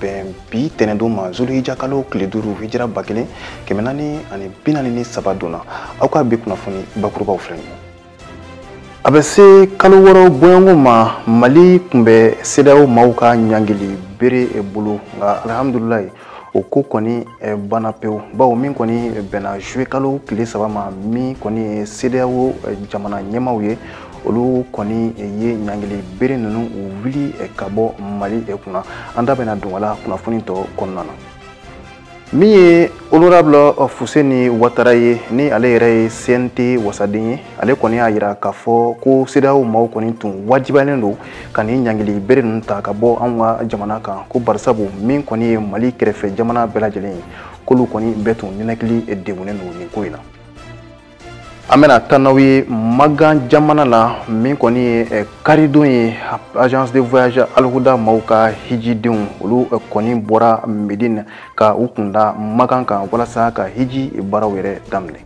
bɛn bi tɛnɛndon ma zulhija kalo tile duuru hijira ba kelen kɛmɛ naani ani bi naani ni saba don na aw ka bi kunnafoni bakurubaw filɛ nin ye a bɛ se kalo wɔɔrɔ bɔɲɔgɔn ma mali kun bɛ sedeyawo maaw ka ɲangili bere bolo nka alihamudulilayi o ko kɔni eh, banna pewu bawo min kɔni bɛnna juillet kalo tile saba ma min kɔni ye sedeyawo eh, jamana ɲɛmaw ye olu kɔni ye ɲangili bere ninnu wuli ka bɔ mali kunna an da bɛna don a la kunnafoni tɔ kɔnɔna na min ye honorable fuseni watara ye ni ale yɛrɛ ye cnt wasaden ye ale kɔni y'a yira k'a fɔ ko sedeyawo maaw kɔni tun wajibiyalen don ka nin ɲangili bere ninnu ta ka bɔ anw ka jamana kan ko barisabu min kɔni ye mali kɛrɛfɛ jamana bɛɛ lajɛlen ye k'olu kɔni bɛɛ tun ninakili degunnen don nin ko in na an bɛna taa n'aw ye magan jamana la min kɔni ye eh, karidon ye agence de voyage alihuda maaw ka hijidenw olu eh, kɔni bɔra medine ka u kunda magan kan walasa ka hiji baaraw yɛrɛ daminɛ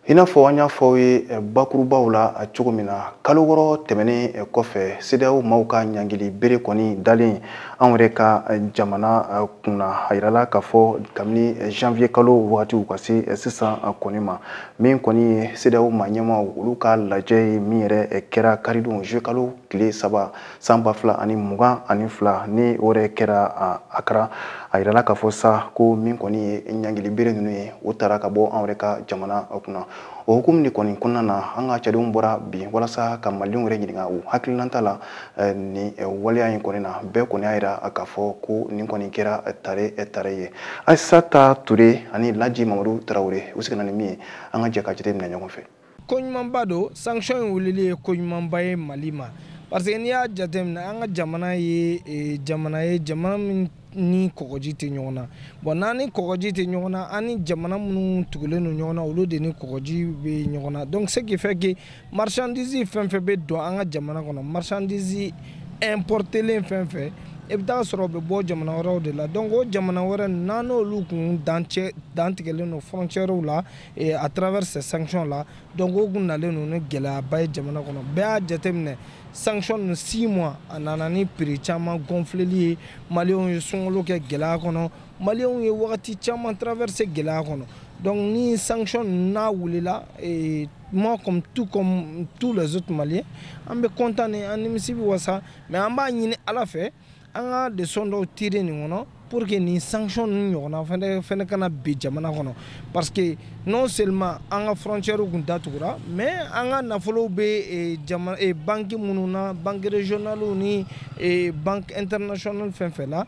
i n'a fɔ an y'a fɔ aw ye eh, bakurubaw la eh, cogo min na kalo wɔɔrɔ tɛmɛnen eh, kɔfɛ sedeyawo maaw ka ɲangili bere kɔni dalen anw yɛrɛ ka jamana kunna a yirala k'a fɔ kabini janvier kalo wagatiw ka se sisan kɔni ma min kɔni ye sedeyawo maa ɲɛmaaw olu ka lajɛ ye min yɛrɛ kɛra karidon juillet kalo tile saba san ba fila ani mugan ani fila ni o yɛrɛ kɛra akara a yirala k'a fɔ sa ko min kɔni ye ɲangili bere ninnu ye o tara ka bɔ an yɛrɛ ka jamana kunna o hukumu de kɔni kɔnɔna na an ka cɛdenw bɔra bi walasa ka malidenw yɛrɛ ɲininka u hakilinata la eh, nin eh, waleya in kɔni na bɛɛ kɔni y'a yira k'a fɔ ko nin kɔni kɛra eh, tare tare ye ayisata ture ani laji mamadu tarawele u seginna ni min ye an ka jɛ ka jate minɛ ɲɔgɔn fɛ koɲumanba don sanction in wulili ye koɲumanba ye mali ma parce que n'i y'a jateminɛ an ka jamana ye e, jamana ye jamana min ni kɔgɔji tɛ ɲɔgɔn na bon n'an ni kɔgɔji tɛ ɲɔgɔn na an ni jamana minnu tugulen don ɲɔgɔn na olu de ni kɔgɔji bɛ ɲɔgɔn na donc ce qui fait que marchandise fɛn fɛn bɛ don an ka jamana kɔnɔ marchandise importelen fɛn fɛn i bɛ taa sɔrɔ o bɛ bɔ jamana wɛrɛw de la donc o jamana wɛrɛ n'an n'olu kun dan tigɛlen don frontières la Et à travers ces sanctions là donc o kun nalen don ni gɛlɛyaba ye jamana kɔnɔ bɛɛ y'a jateminɛ sanction ninnu six mois a nana ni prix caman gonfleli ye maliyɛnw ye sunkalo kɛ gɛlɛya kɔnɔ maliyɛnw ye wagati caman traverser gɛlɛya kɔnɔ donc ni sanction ninnu n'a wulila eh, moi comme tout comme tous les autres maliens an bɛ content ni an nimisi bɛ wasa mais an b'a ɲini ala fɛ an ka leçon dɔw tirer nin kɔnɔ pour que nin sanction ninnu ɲɔgɔnna fɛnɛ fɛnɛ kana bin jamana kɔnɔ parce que non seulement an ka frontières kun datugura mais an ka nafolow bɛ eh, jamana eh, banque minnu na banque régionales ni eh, banque internationale fɛn fɛn la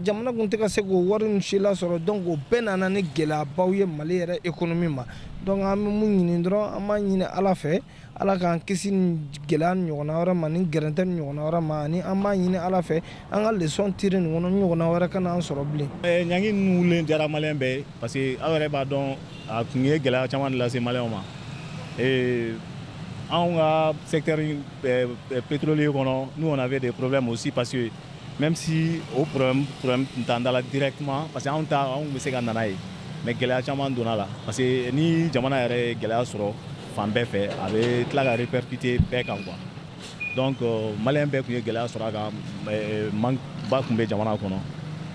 jamana kun tɛ ka se k'o wari ninnu si lasɔrɔ donc o bɛɛ nana ni gɛlɛyabaw ye mali yɛrɛ économie ma donc an bɛ mun ɲini dɔrɔn an b'a ɲini ala fɛ ala k'an kisi nin gɛlɛya ɲɔgɔnna wɛrɛ ma ni gɛrɛntɛ ɲɔgɔnna wɛrɛ ma ani an b'a ɲini ala fɛ an ka leçon tirer nin kɔnɔ ɲɔgɔnna wɛrɛ kana an sɔrɔ bilen ɲangi ninnu wulilen diyara maliyɛn bɛɛ ye parce que aw yɛrɛ b'a dɔn a kun ye gɛlɛya caman de lase maliyɛnw ma anw ka secteur pétrolier kɔnɔ nous on avait des problèmes aussi parce que même si o problème problème tun t'an da la directement parce que anw ta anw bɛ se ka na n'a ye mais gɛlɛya caman donna la parce que ni jamana yɛrɛ ye gɛlɛya sɔrɔ fan bɛɛ fɛ a bɛ tila ka répercuter bɛɛ kan quoi donc euh, maliyɛn bɛɛ kun ye gɛlɛya sɔrɔ a kan euh, manque ba kun bɛ jamana kɔnɔ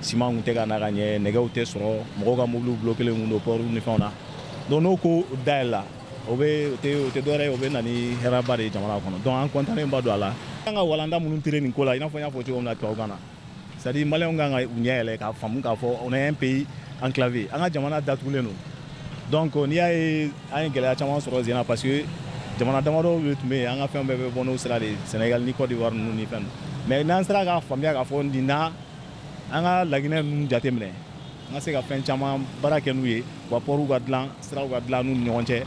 siman kun tɛ ka na ka ɲɛ nɛgɛw tɛ sɔrɔ mɔgɔw ka mobiliw bloquer len kun don pɔriw ni fɛnw na donc n'o ko dayɛlɛla o bɛ o tɛ o tɛ dɔwɛrɛ ye o bɛ na ni hɛrɛba de ye jamana kɔnɔ donc an kɔntannen ba don a la an ka walanda minnu tirer nin ko la i n'a fɔ n y'a fɔ cogo min na tubabukan na c'est à dire maliyɛnw kan ka u ɲɛ yɛlɛ k'a faamu k'a fɔ on est un pays enclavé an ka jamana datugulen don donc n'i y'a ye an ye gɛlɛya caman sɔrɔ sen na parce que jamana damadɔ de tun bɛ yen an ka fɛn bɛɛ bɛ bɔ n'o sira de ye Sénégal ni Côte d'Ivoire ninnu ni fɛn mais n'an sera k'a faamuya k'a fɔ nin na an ka laginɛ ninnu jateminɛ an ka se ka fɛn caman baara kɛ n'u ye wa pɔriw ka dilan siraw ka dilan n'u ni ɲɔgɔn cɛ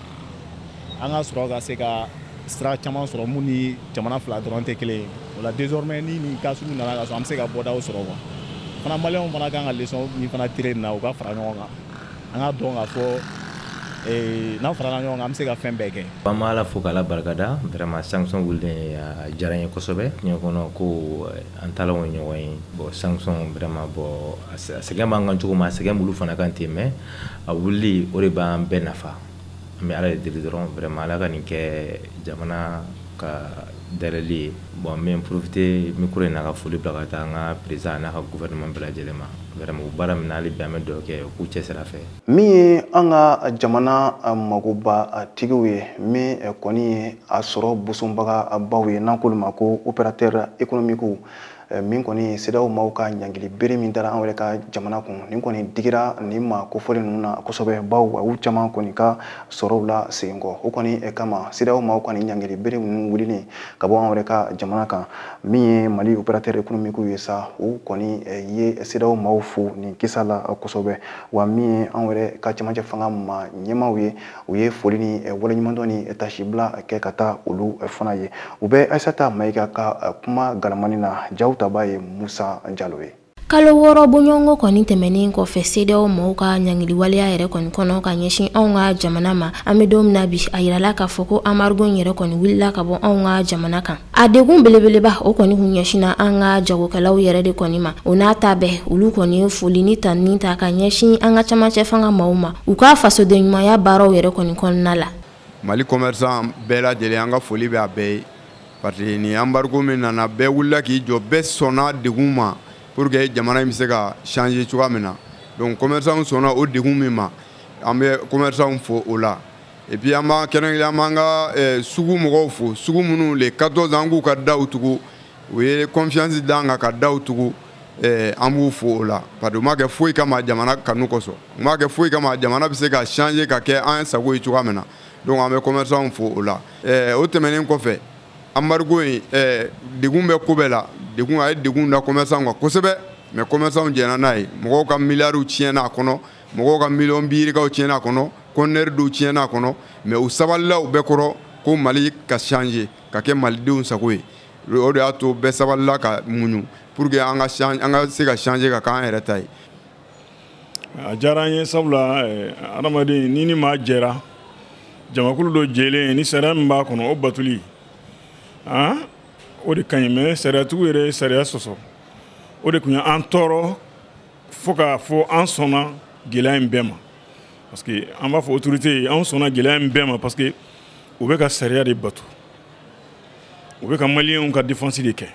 an ka sɔrɔ ka se ka sira caman sɔrɔ mun ni jamana fila dɔrɔn tɛ kelen ye o la désormais ni nin cas sugu nana ka sɔrɔ an bɛ se ka bɔdaw sɔrɔ quoi fana maliyɛnw fana kan ka leçon min fana tirer nin na u ka fara ɲɔgɔn kan an k'a dɔn k'a fɔ eh, n'an farala ɲɔgɔn kan an bɛ se ka fɛn bɛɛ kɛ an b'ala fo k'ala barikada vraiment sanction wulilen a diyara n ye kosɛbɛ diɲɛ kɔnɔ ko eh, an taalan ye ɲɔgɔn ye bon sanction vraiment bon a sɛgɛn b'an kan cogo min a sɛgɛn b'olu fana kan ten mais a wulili o de b'an bɛɛ nafa an bɛ ala de deli dɔrɔn vraiment ala ka nin kɛ jamana ka dernier ye bon n bɛ profiter micro in na ka foli bila ka taa an ka président n'a ka gouvernement bɛɛ lajɛlen ma vraiment o baara min na hali bi an bɛ dugawu kɛ k'u cɛsir'a fɛ min ye an ka jamana magoba tigiw ye min kɔni ye a sɔrɔ bosonbaga baw ye n'an k'olu ma ko opérateur économique eh, min kɔni CEDEAO maaw ka ɲangili bere min dara an yɛrɛ ka jamana kun nin kɔni digira nin maa kofɔlen ninnu na kosɛbɛ baw a y'u caman kɔni ka sɔrɔw lasegin kɔ o kɔni eh, kama CEDEAO maaw ka nin ɲangili bere ninnu wulilen ka bɔ an yɛrɛ ka jamana kan min ye mali opérateur économique ye sa u kɔni eh, ye CEDEAO maaw fo nin kisa la kosɛbɛ wa min ye an yɛrɛ ka camancɛ fanga ma ɲɛmaaw ye u ye foli ni eh, waleɲumandɔn ni eh, tasibila eh, kɛ ka taa olu fana ye u bɛ aisata mayiga ka kuma galamani na jaw taba ye musa jalo ye kalo wɔɔrɔ bɔɲɔgɔnko kɔni tɛmɛnen kɔfɛ CEDEAO mɔgɔw ka ɲangiliwaleya yɛrɛ kɔni kɔnɔ ka ɲɛsin anw ka jamana ma an bɛ don min na bi a yirala k'a fɔ ko anbarigo in yɛrɛ kɔni wulila ka bɔ anw ka jamana kan A degun belebeleba o kɔni kun ɲɛsinna an ka jagokɛlaw yɛrɛ de kɔni ma o n'a ta bɛɛ olu kɔni ye foli ni tanuni ta ka ɲɛsin an ka camancɛ fanga maaw ma u ka fasoden ɲumanya baaraw yɛrɛ kɔni kɔnɔna la mali commerçants bɛɛ lajɛlen an ka foli bɛ a bɛɛ ye parce que ni embargo min nana bɛɛ wulila k'i jɔ bɛɛ sɔnna degun ma pour que jamana in bɛ se ka changer cogoya min na donc commerçants sɔnna o degun min ma an bɛ commerçants fo o la et puis an b'a kɛrɛnkɛrɛn an b'an ka eh, sugu mɔgɔw fo sugu minnu le 14 an k'u ka daw tugu u ye confiance d'an kan ka daw tugu eh, an b'u fo o la parce que u m'a kɛ foyi kama jamana kanu kosɔn u m'a kɛ foyi kama jamana bɛ se ka changer ka kɛ an sago ye cogoya min na donc an bɛ commerçants fo o la eh, o tɛmɛnen kɔfɛ embargo in eh, degun bɛ ko bɛɛ la degun a ye degun da commerçants kan kosɛbɛ mais commerçants jɛnna n'a ye mɔgɔw ka miliyariw tiɲɛna a kɔnɔ mɔgɔw ka miliyɔn biirikaw tiɲɛna a kɔnɔ conteneur dɔw tiɲɛna a kɔnɔ mais u sabalila o bɛɛ kɔrɔ ko mali ka changer ka kɛ malidenw sago ye o de y'a to bɛɛ sabalila ka muɲu pour que an ka se ka changer ka k'an yɛrɛ ta ye a diyara an ye sabula eh, adamaden n'i ni maa jɛra jamakulu dɔ jɛlen ni sariya min b'a kɔnɔ o batuli ah, o de ka ɲi mais sariyatigiw yɛrɛ ye sariya sɔsɔ o de tun ye an tɔɔrɔ fo k'a fɔ an sɔnna gɛlɛya in bɛɛ ma parce que an b'a fɔ autorité ye an sɔnna gɛlɛya in bɛɛ ma parce que u bɛ ka sariya de bato u bɛ ka maliyɛnw ka défense de kɛ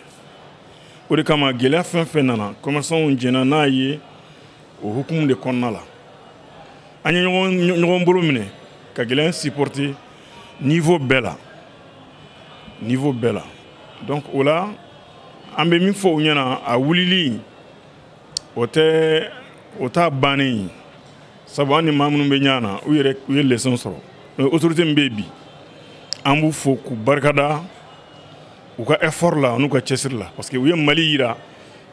o de kama gɛlɛya fɛn fɛn nana commerçantw jɛnna n'a ye o hukumu de kɔnɔna la an ye ɲɔgɔn bolo minɛ ka gɛlɛya in supporter niveau bɛɛ la niveau bɛɛ la donc o la an bɛ min fɔ u ɲɛna a wulili o tɛ o t'a bannen ye sabu an ni maa minnu bɛ ɲɔgɔn na u yɛrɛ u ye leçon sɔrɔ mais autorité min bɛ yen bi an b'u fo k'u barikada u ka effort la n'u ka cɛsiri la parce que u ye mali yira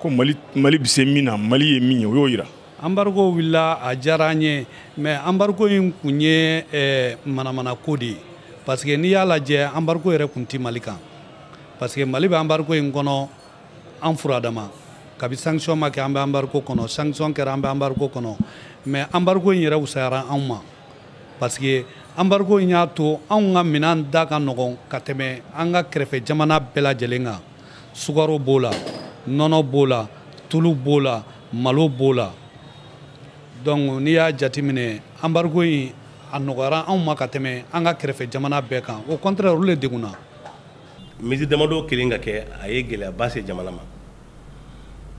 ko mali bɛ se min na mali ye min ye u y'o yira embargo wulila a diyara an ye mais embargo in kun ye eh, manamana ko de ye parce que n'i y'a lajɛ embargo yɛrɛ kun tɛ mali kan parce que mali bɛ embargo in kɔnɔ an furadama kabi sanction ma kɛ an bɛ embargo kɔnɔ sanction kɛra an bɛ embargo kɔnɔ mais embargo in yɛrɛ wusayara anw ma parce que embargo in y'a to anw ka minan da ka nɔgɔn ka tɛmɛ an ka kɛrɛfɛ jamana bɛɛ lajɛlen kan sukaro b'o la nɔnɔ b'o la tulu b'o la malo b'o la donc n'i y'a jateminɛ embargo in a nɔgɔyara anw ma ka tɛmɛ an ka kɛrɛfɛ jamana bɛɛ kan au contraire olu de degunna mesure damadɔ kelen ka kɛ a ye gɛlɛyaba se jamana ma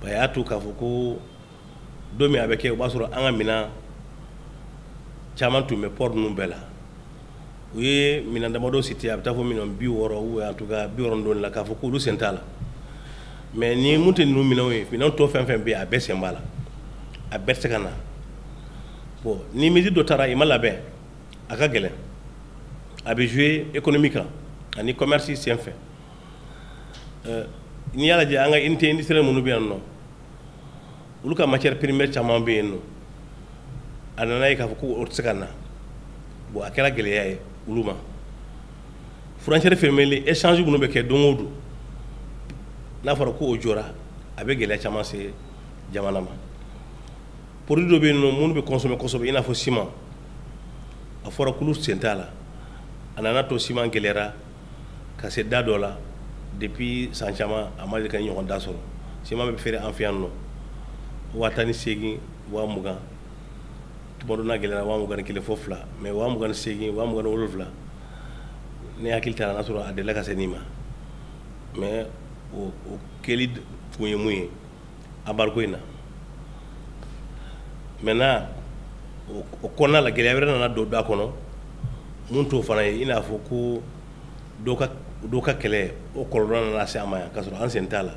a y'a to k'a fɔ ko don min a bɛ kɛ o b'a sɔrɔ an ka minɛn caman tun bɛ port ninnu bɛɛ la u ye minɛn damadɔ citer a bɛ taa fo minɛn bi wɔɔrɔ ou en tout cas bi wɔɔrɔ dɔɔnin la k'a fɔ k'olu sen t'a la mais ni mun tɛ ninnu minɛnw ye minɛn tɔ fɛn fɛn bɛ yen a bɛɛ sen b'a la a bɛɛ tɛ se ka na bon ni mesure dɔ tara i ma labɛn a ka gɛlɛn a bɛ jouer économie kan ani commerce sen fɛ euh, n'i y'a lajɛ an ka unité industrielle minnu bɛ yan nɔ olu ka matière première caman bɛ yen nɔ a nana ye k'a fɔ ko o tɛ se ka na bon a kɛra gɛlɛya ye olu ma frontière fermée échange minnu bɛ kɛ don o don n'a fɔra ko o jɔra a bɛ gɛlɛya caman se jamana ma produit dɔ bɛ yen nɔ minnu bɛ consommer kosɛbɛ i n'a fɔ ciment a fɔra k'olu sen t'a la a nana to ciment gɛlɛyara ka se da dɔ la depuis san caman a ma deli k'a ɲɔgɔn da sɔrɔ ciment bɛ feere an fɛ yan nɔ waa tan ni segingin waa mugan tuma dɔ n'a gɛlɛyara waa mugan ni kelen fo fila mais waa mugan ni segingin waa mugan ni wolonwula ne hakili t'a la n'a sɔrɔ a delila ka se nin ma mais o kɛli kun ye mun ye embargo in na maintenant o kɔnɔna la gɛlɛya wɛrɛ nana don da kɔnɔ mun t'o fana ye i n'a fɔ ko dɔ ka dɔ ka kɛlɛ o kɔlɔlɔ nana se an ma yan k'a sɔrɔ an sen t'a la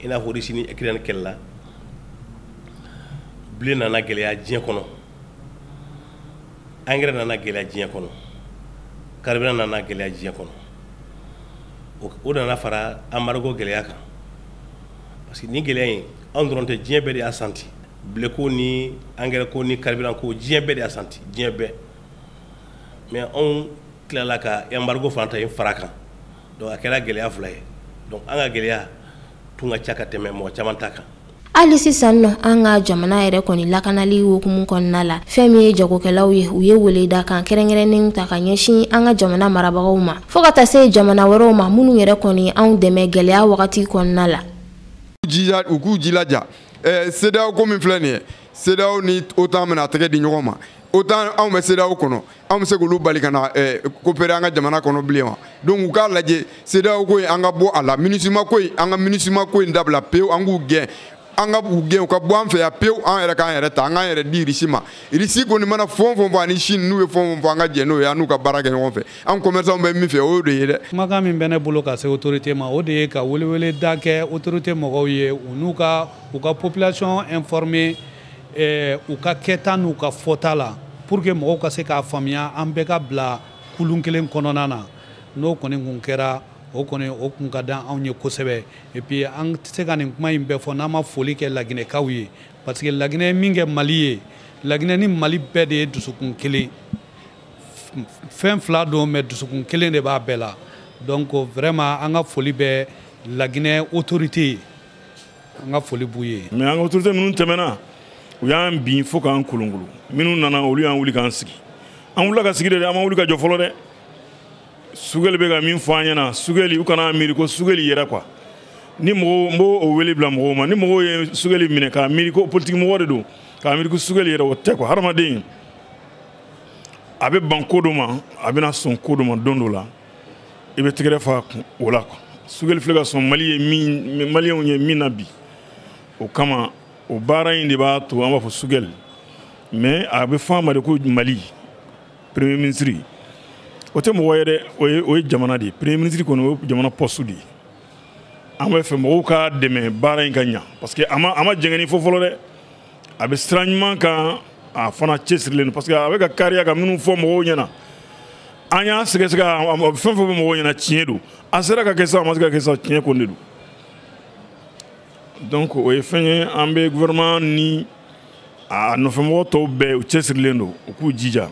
i n'a fɔ Russie ni Ukraine kɛlɛ la blé nana gɛlɛya diɲɛ kɔnɔ engrais nana gɛlɛya diɲɛ kɔnɔ carburant nana gɛlɛya diɲɛ kɔnɔ o nana fara embargo gɛlɛya kan parce que nin gɛlɛya in anw dɔrɔn tɛ diɲɛ bɛɛ de y'a santi blé ko ni engrais ko ni carburant ko diɲɛ bɛɛ de y'a santi diɲɛ bɛɛ mais anw tilala ka embargo fana ta in fara kan donc a kɛra gɛlɛya fila ye donc an ka gɛlɛya tun ka ca ka tɛmɛ mɔgɔ caman ta kan hali sisan nɔ an ka jamana yɛrɛ kɔni lakanali hukumu kɔnɔna la fɛn min ye jagokɛlaw ye u ye weleda kan kɛrɛnkɛrɛnnen ta ka ɲɛsin an ka jamana marabagaw ma fo ka taa se jamana wɛrɛw ma minnu yɛrɛ kɔni anw dɛmɛ gwɛlɛya wagati kɔnɔna la u k'u jilaja CEDEAO ko min filɛ nin ye CEDEAO ni OTAN bɛna tɛgɛ di ɲɔgɔn ma OTAN anw bɛ CEDEAO kɔnɔ anw bɛ se k'olu bali ka na coopérer an ka jamana kɔnɔ bilen wa donc u k'a lajɛ CEDEAO ko in an ka bɔ a la MINUSMA ko in an ka MINUSMA ko in dabila pewu an k'u gɛn an ka u gɛn u ka bɔ an fɛ yan pewu an yɛrɛ k'an yɛrɛ ta an k'an yɛrɛ di irisi ma irisi kɔni mana fɛn fɛn fɔ ani chine n'u ye fɛn fɛn fɔ an ka jɛn n'o ye an n'u ka baara kɛ ɲɔgɔn fɛ an commerçant bɛ min fɛ o y'o de ye dɛ kumakan min bɛ ne bolo ka se autorité ma o de ye ka welewele da kɛ autorité mɔgɔw ye u n'u ka u ka population informer eh, u ka kɛta n'u ka fɔta la pour que mɔgɔw ka se k'a faamuya an bɛɛ ka bila kulun kelen kɔnɔna na n'o kɔni kun kɛra o kɔni o kun ka di anw ye kosɛbɛ et puis an tɛ se ka nin kuma in bɛɛ fɔ n'an ma foli kɛ laginɛkaw ye parce que laginɛ ye min kɛ mali ye laginɛ ni mali bɛɛ de ye dusukun kelen fɛn fila don mais dusukun kelen de b'a bɛɛ la donc vraiment an ka foli bɛ laginɛ autorité ye an ka foli b'u ye mais an ka autorité minnu tɛmɛna u y'an bin fo k'an kolonkolon minnu nana olu y'an wuli k'an sigi an wulila ka sigi de an ma wuli ka jɔ fɔlɔ dɛ sugeli bɛ ka min fɔ an ɲɛna sugeli u kana miiri ko sugeli yɛrɛ quoi ni mɔgɔw n b'o wele bila mɔgɔw ma ni mɔgɔw ye sugeli minɛ k'a miiri ko politiki mɔgɔ de don k'a miiri ko sugeli yɛrɛ o tɛ quoi hadamaden a bɛ ban ko dɔ ma a bɛna sɔn ko dɔ ma don dɔ la i bɛ tɛgɛrɛ f'a kun o la quoi sugeli filɛ ka sɔn mali ye min maliyɛnw ye min na bi o kama o baara in de b'a to an b'a fɔ sugeli mais a bɛ fɔ a ma de ko mali premier ministre o tɛ mɔgɔ ye dɛ o ye o ye jamana de ye premier ministre kɔni o ye jamana poste de ye an bɛ fɛ mɔgɔw k'a dɛmɛ baara in ka ɲa parce que a ma a ma jɛngɛni fɔ fɔlɔ dɛ a bɛ sira ɲuman kan a fana cɛsirilen don parce que a bɛ ka kariya ka minnu fɔ mɔgɔw ɲɛna an y'a sɛgɛsɛgɛ a bɛ fɛn fɛn fɔ mɔgɔw ɲɛna tiɲɛ don a sera ka kɛ sa a ma se ka kɛ sa tiɲɛ ko de don donc o ye fɛn ye an bɛ gouvernement ni a nɔfɛmɔgɔ tɔw bɛɛ u cɛsirilen don u k'u jija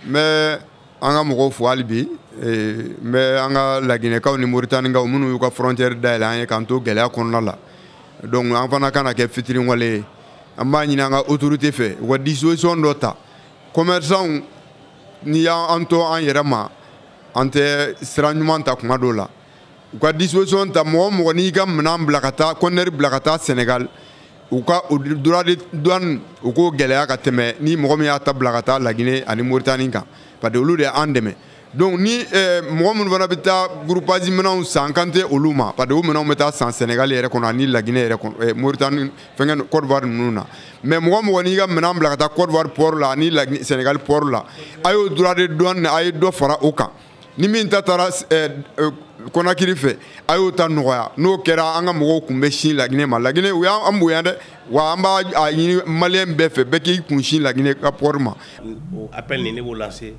mais an ka mɔgɔw fo hali bi eh, n bɛ an ka laginɛkaw ni moritanikaw minnu y'u ka frontière dayɛlɛ an ye k'an to gɛlɛya kɔnɔna la donc an fana kana kɛ fitiriwale ye an b'a ɲini an ka autorité fɛ u ka disposition dɔ ta commerçanw n'i y'an to an yɛrɛ ma an tɛ sira ɲuman ta kuma dɔw la u ka disposition ta mɔgɔ mɔgɔ n'i ka minɛn bila ka taa conteneur bila ka taa senegal u ka o droit de douane u k'o gɛlɛya ka tɛmɛ ni mɔgɔ min y'a ta bila ka taa lagine ani moritani kan parce que olu de y'an dɛmɛ donc ni eh, mɔgɔ minnu fana bɛ taa groupage minɛnw san n kan tɛ olu ma parce que o minɛnw bɛ taa san senegal yɛrɛ kɔnɔ ani lagine yɛrɛ kɔnɔ eh, moritani fɛnkɛ cote d'ivoire ninnu na mais mɔgɔ mɔgɔ n'i ka minɛn bila ka taa cote d'ivoire port la ani senegal port la a y'o droit de douane a ye dɔ fara o kan ni min ta taara eh, eh, kɔnakiri fɛ a y'o ta nɔgɔya n'o kɛra an ka mɔgɔw kun bɛ sin laginɛ ma laginɛ u y'an bonya dɛ wa an b'a ɲini maliyɛn bɛɛ fɛ bɛɛ k'i kun sin laginɛ ka pɔri ma o appel nin ne b'o lancer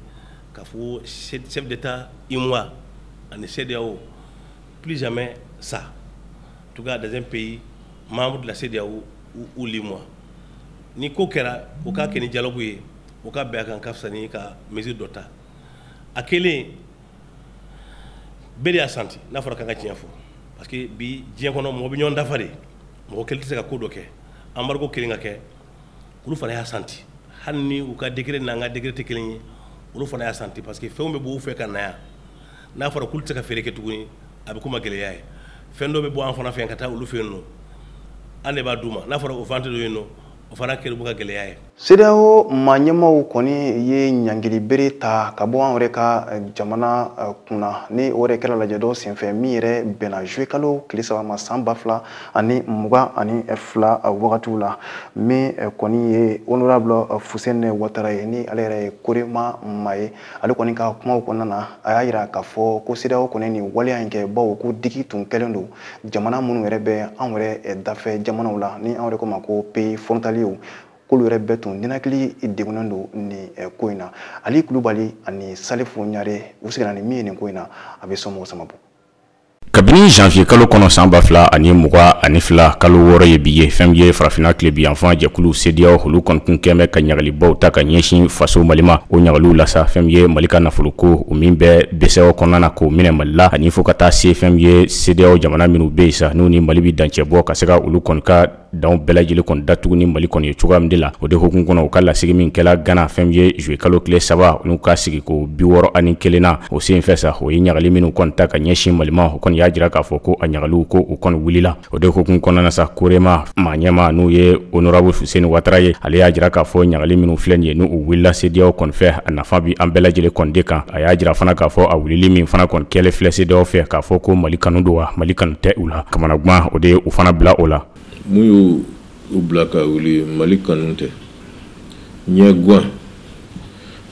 k'a fɔ chef d'état UEMOA ani CEDEAO plus jamais ça en tout cas dans un pays membre de la CEDEAO ou, ou l'UEMOA ni ko kɛra o k'a kɛ ni dialogue ye o ka bɛn a kan ka fisa ni ka mesure dɔ ta a kɛlen bɛɛ de y'a santi n'a fɔra k'an ka tiɲɛ fɔ parce que bi diɲɛ kɔnɔ mɔgɔ bɛ ɲɔgɔn dafa de mɔgɔ kelen tɛ se ka ko dɔ kɛ embargo kelen ka kɛ olu fana y'a santi hali ni u ka degré n'an ka degré tɛ kelen ye olu fana y'a santi parce que fɛnw bɛ b'u fɛ ka na yan n'a fɔra k'olu tɛ se ka feere kɛ tuguni a bɛ k'u ma gɛlɛya ye fɛn dɔ bɛ bɔ an fana fɛ yan ka taa olu fɛ yen nɔ an de b'a d'u ma n'a fɔra o vente dɔ yen nɔ o fana kɛlen b'u ka gɛlɛya ye CEDEAO maa ɲɛmaaw kɔni ye ɲangili bere ta ka bɔ an yɛrɛ ka eh, jamana eh, kunna ni o yɛrɛ kɛra lajɛ dɔ senfɛ min yɛrɛ bɛnna juillet kalo tile saba ma san ba fila ani mugan ani fila eh, wagatiw la min kɔni ye honorable fuseni watara ye ni ale yɛrɛ ye korema maa ye ale kɔni ka kumaw kɔnɔna na a y'a yira k'a fɔ ko CEDEAO kɔni nin waleya in kɛ bawo ko digi tun kɛlen don jamana minnu yɛrɛ bɛ anw yɛrɛ dafɛ jamanaw la ni anw yɛrɛ ko ma ko pays frontaliers k'olu yɛrɛ bɛɛ tun ninakili degunnen don nin ko in na ali kulubali ani salifu ɲare u sigira ni min ye nin ko in na a bɛ somɔgɔ sama bɔ kabini janvier kalo kɔnɔ san ba fila ani mugan ani fila kalo wɔɔrɔ ye bi ye fɛn ye farafina tilebinyanfan jɛkulu CEDEAO olu kɔni tun kɛlen bɛ ka ɲagalibaw ta ka ɲɛsin faso mali ma o ɲagaliw la sa fɛn ye mali ka nafoloko o min bɛ BCEAO kɔnɔna na k'o minɛ mali la ani fo ka taa se fɛn ye CEDEAO jamana minnu bɛ yen sa n'u ni mali bɛ dancɛ bɔ ka se ka olu kɔni ka danw bɛɛ lajɛlen kɔni datugu ni mali kɔni ye cogoya min de la o de hukumu kɔnɔ u ka lasigi min kɛra gana fɛn ye juillet kalo tile saba n'u ka sigi ko bi wɔɔrɔ ani kelen na o senfɛ sa u ye ɲagali minnu kɔni ta ka ɲɛsin mali ma o kɔni y'a jira k'a fɔ ko a ɲagaliw ko u kɔni wulila o de hukumu kɔnɔna na sa korema maa ɲɛmaa n'o ye honorable fuseni watara ye ale y'a jira k'a fɔ ɲagali minnu filɛ nin ye n'u wulila CEDEAO kɔni fɛ a nafa bɛ an bɛɛ lajɛlen kɔni de kan a y'a jira fana k'a fɔ a wulili min fana kɔni kɛlen filɛ CEDEAO fɛ k'a fɔ ko mali kanu don wa mali kanu tɛ u la kamanagan o de y'u fana bila o la mun y'u bila ka wuli mali kanu tɛ ɲɛgan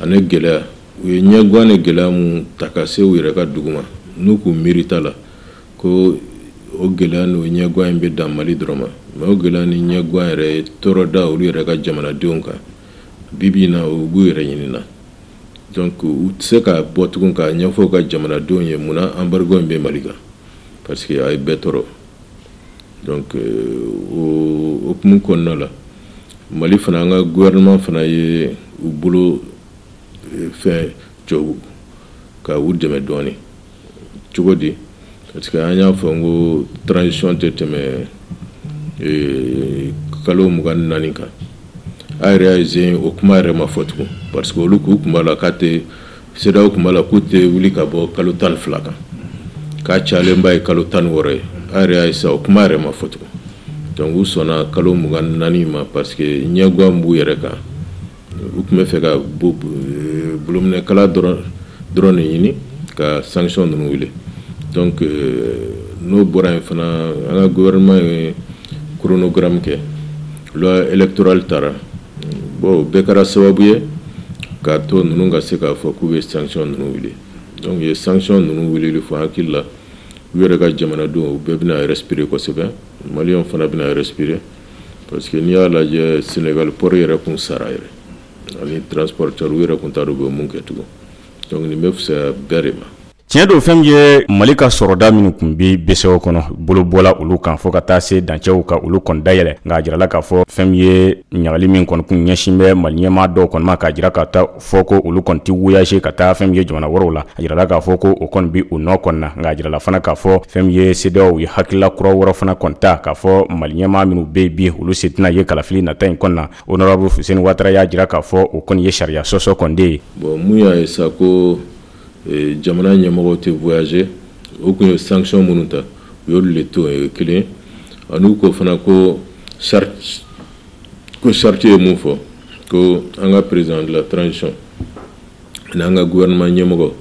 ani gɛlɛya u ye ɲɛgan ni gɛlɛya min ta ka se u yɛrɛ ka dugu ma n'u k'u miiri ta la ko o gɛlɛya n'o ɲɛguwan in bɛ dan mali dɔrɔn ma mais o gɛlɛya ni ɲɛguwan yɛrɛ ye tɔɔrɔ da olu yɛrɛ ka jamanadenw kan bibi na u b'u yɛrɛ ɲinina donc u tɛ se ka bɔ tugun k'a ɲɛfɔ u ka jamanadenw ye munna embargo in bɛ mali kan parce que a ye bɛɛ tɔɔrɔ donc euh, o hukumu kɔnɔna la mali fana an ka gouvernement fana ye u bolo euh, fɛn jɔ ka u dɛmɛ dɔɔnin cogo di parce que an y'a fɔ n ko transition tɛ tɛmɛ eh, kalo mugan ni naani kan a yɛrɛ y'a ye sa o kuma yɛrɛ ma fɔ tugun parce que olu k'u kun b'a la k'a tɛ CEDEAO kun b'a la k'u tɛ wuli ka bɔ kalo tan ni fila kan k'a cayalenba ye kalo tan ni wɔɔrɔ ye a yɛrɛ y'a ye sa o kuma yɛrɛ ma fɔ tugun donc u sɔnna kalo mugan ni naani ma parce que ɲɛguwan b'u yɛrɛ kan u kun bɛ fɛ ka bolominɛkala dɔrɔn de ɲini ka sanction ninnu wuli donc euh, n'o bɔra yen fana an ka gouvernement ye chronogramme kɛ loi électorale tara bon o bɛɛ kɛra sababu ye k'a to ninnu ka se k'a fɔ k'u bɛ sanction ninnu wuli donc u ye sanction ninnu wulili fɔ hakili la u yɛrɛ ka jamanadenw u bɛɛ bɛna respirer kosɛbɛ maliyɛnw fana bɛna respirer parce que n'i y'a lajɛ Sénégal port yɛrɛ kun sara yɛrɛ ani transporteur u yɛrɛ kun t'a dɔn u bɛ mun kɛ tugun donc nin bɛ fisaya bɛɛ de ma tiɲɛ don fɛn min ye mali ka sɔrɔda minnu kun bɛ BCEAO kɔnɔ bolo bɔla olu kan fo ka taa se dancɛw ka olu kɔni dayɛlɛ nka a jirala k'a fɔ fɛn min ye ɲangili min kɔni kun ɲɛsin bɛ mali ɲɛmaa dɔw kɔni ma k'a jira ka taa fɔ ko olu kɔni tɛ voyager ka taa fɛn min ye jamana wɛrɛw la a jirala k'a fɔ ko o kɔni bɛ u nɔ kɔni na nka a jirala fana k'a fɔ fɛn min ye CEDEAO ye hakilila kura wɛrɛ fana kɔni ta k'a fɔ mali ɲɛmaa minnu bɛ bi olu sen tɛna ye kalafili nata in kɔni na honorable Fuseni Watara y'a jira k'a fɔ o kɔni ye sariya sɔsɔ kɔni de ye bon mun y'a ye sa ko e, jamana ɲɛmɔgɔw tɛ voyager o kun ye sanction minnu ta u y'olu le to yen o ye kelen an'u ko fana ko charte ko charte ye mun fɔ ko an ka président de la transition ani an ka gouvernement ɲɛmɔgɔ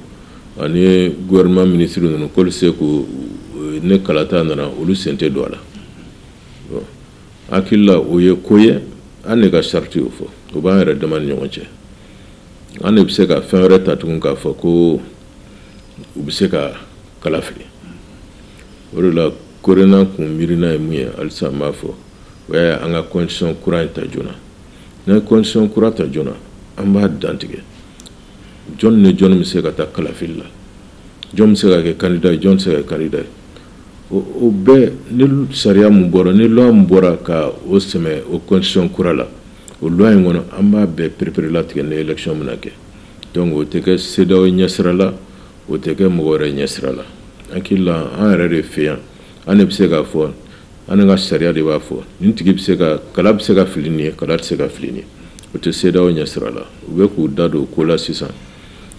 ani gouvernement ministre ninnu k'olu se ko ni kalata nana olu sen tɛ don a la hakili la o ye ko ye an ne ka charte y'o fɔ o b'an yɛrɛ dama ni ɲɔgɔn cɛ an ne bɛ se ka fɛn wɛrɛ ta tugun k'a fɔ ko u bɛ se ka kala fili o de la korena kun miirina ye mun ye halisa n b'a fɔ o y'a ye an ka constitution kura in ta joona n'an ye constitution kura ta joona an b'a dantigɛ jɔn ni jɔn bɛ se ka taa kalafili la jɔn bɛ se ka kɛ kandida ye jɔn tɛ se ka kɛ kandida ye o bɛɛ ni sariya min bɔra ni loi min bɔra ka o sɛmɛ o constitution kura la o loi in kɔnɔ an b'a bɛɛ perepere latigɛ ni élection bɛna kɛ donc o tɛ kɛ CEDEAO ɲɛsira la o tɛ kɛ mɔgɔ wɛrɛ ɲɛsira la hakili la an yɛrɛ de fɛ yan an de bɛ se k'a fɔ An ka sariya de b'a fɔ nin tigi bɛ se ka kala bɛ se ka fili nin ye kala tɛ se ka fili nin ye o tɛ CEDEAO ɲɛsira la u bɛ k'u da don ko la sisan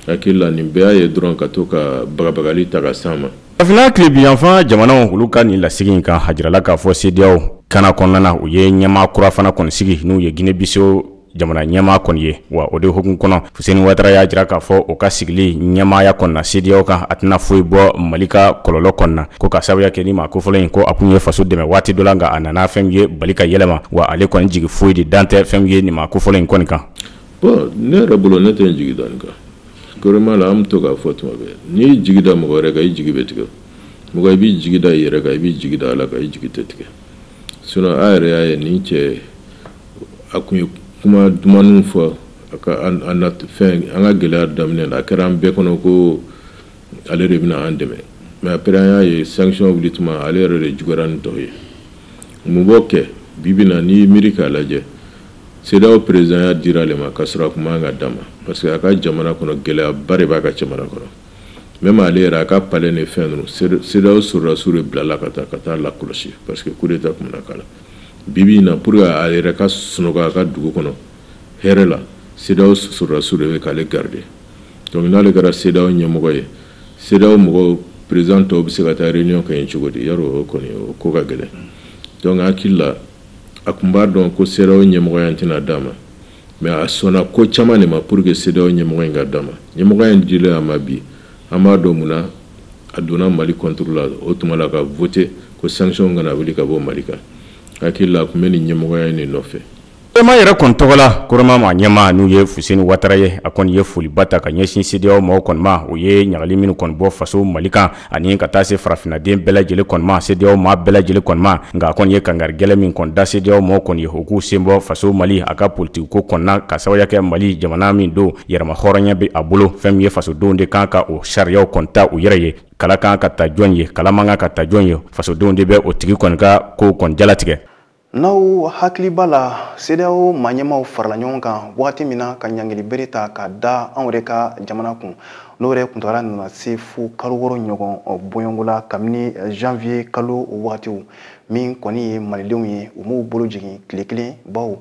hakili la nin bɛɛ y'a ye dɔrɔn ka to ka bagabagali ta ka s'an ma farafina tilebin yanfan jamanaw olu ka nin lasigi in kan a jirala k'a fɔ CEDEAO kana kɔnɔna na u ye ɲɛmaa kura fana kɔni sigi n'u ye Guinée Bissau jamana ɲɛmaa kɔni ye wa o de hukumu kɔnɔ fuseni watara y'a jira k'a fɔ o ka sigili ɲɛmaaya kɔni na CEDEAO kan a tɛna foyi bɔ mali ka kɔlɔlɔ kɔnɔna ko ka sababuya kɛ nin maa kofɔlen in ko a kun ye faso dɛmɛ waati dɔ la nka a nana fɛn min ye bali ka yɛlɛma wa ale kɔni jigi foyi de dalen tɛ fɛn min ye nin maa kofɔlen in kɔni kan bon ne yɛrɛ bolo ne tɛ n jigi da nin kan gouvernement la an bɛ to k'a fɔ tuma bɛɛ n'i y'i jigi da mɔgɔ wɛrɛ kan i jigi bɛ tigɛ mɔgɔ i b'i jigi da i yɛrɛ kan i b'i jigi da ala kan i jigi tɛ tigɛ sinon a yɛrɛ y'a ye nin cɛ a kun ye kuma dumanw fɔ fɛn an ka gɛlɛya daminɛ a kɛra an bɛɛ kɔnɔ ko ale de bɛna an dɛmɛ mais après an y'a ye sanction wuli tuma ale yɛrɛ de juguyara ni tɔw ye mun b'o kɛ bi bi in na n'i y'i miiri k'a lajɛ CEDEAO présidentya dira ale ma k'a sɔrɔ a kun man kan ka d'a ma parce que a ka jamana kɔnɔ gɛlɛyaba de b'a ka jamana kɔnɔ même ale yɛrɛ a ka palais ni fɛn ninnu CEDEAO sɔrɔdasiw de bilala ka taa ka taa lakɔlɔsi parce que coup d'état kun bɛna k'a la Bi bi in na pour que a yɛrɛ ka sunɔgɔ a ka dugu kɔnɔ hɛrɛ la, CEDEAO sɔrɔdasiw de bɛ k'ale garder donc n'ale kɛra CEDEAO ɲɛmɔgɔ ye, CEDEAO mɔgɔw président tɔw bɛ se ka taa réunion kɛ yen cogo di? Yarɔ o kɔni o ko ka gɛlɛn donc n hakili la a kun b'a dɔn ko CEDEAO ɲɛmɔgɔya in tɛna d'a ma mais a sɔnna ko caman de ma pour que CEDEAO ɲɛmɔgɔ in ka d'a ma, ɲɛmɔgɔya in dilen a ma bi An b'a dɔn mun na a donna Mali contre la o tuma la ka voter ko sanction kana wuli ka bɔ Mali kan. N hakili la a kun bɛ nin ɲɛmɔgɔya in de nɔfɛ. COREMA yɛrɛ kɔni tɔgɔ la, COREMA maa ɲɛmaa n'u ye Fuseni Watara ye, a kɔni ye foliba ta ka ɲɛsin CEDEAO mɔgɔw kɔni ma, u ye ɲangili minnu kɔni bɔ faso Mali kan ani ka taa se farafinaden bɛɛ lajɛlen kɔni ma, CEDEAO maa bɛɛ lajɛlen kɔni ma. Nka a kɔni ye kangari gɛlɛn min kɔni da CEDEAO mɔgɔw kɔni ye, u k'u sen bɔ faso Mali a ka politiki ko kɔni na, ka sababuya kɛ Mali jamana min don, yɛrɛmahɔrɔnya bɛ a bolo fɛn min ye fasodenw de kan ka o sariyaw kɔni ta u yɛrɛ ye kala kan ka ta jɔn ye kala man kan ka ta jɔn ye fasodenw de bɛ o tigi kɔni ka kow kɔni jalatigɛ n'aw hakili b'a la CEDEAO maa ɲɛmaaw farala ɲɔgɔn kan wagati min na ka ɲangili bere ta ka da anw yɛrɛ ka jamana kun n'o yɛrɛ kuntagala nana se fo kalo wɔɔrɔ ɲɔgɔn bɔɲɔgɔnko la kabini janvier kalo wagatiw min kɔni ye malidenw ye u m'u bolo jigin tile kelen baw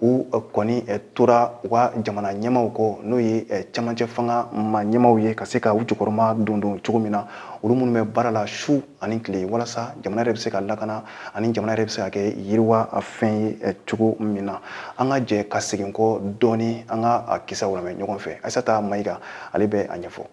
u eh, kɔni eh, tora u ka jamana ɲɛmaw kɔ n'o ye eh, camancɛ fanga ma ɲɛmaw ye ka se ka u jukɔrɔma don don cogo min na olu minnu bɛ baara la su ani tile walasa jamana yɛrɛ bɛ se ka lakana ani jamana yɛrɛ bɛ se ka kɛ yiriwa fɛn ye cogo min na an ka jɛ ka segin kɔ dɔɔni an ka a kisaw lamɛn ɲɔgɔn fɛ ayisata mayiga ale bɛ a ɲɛfɔ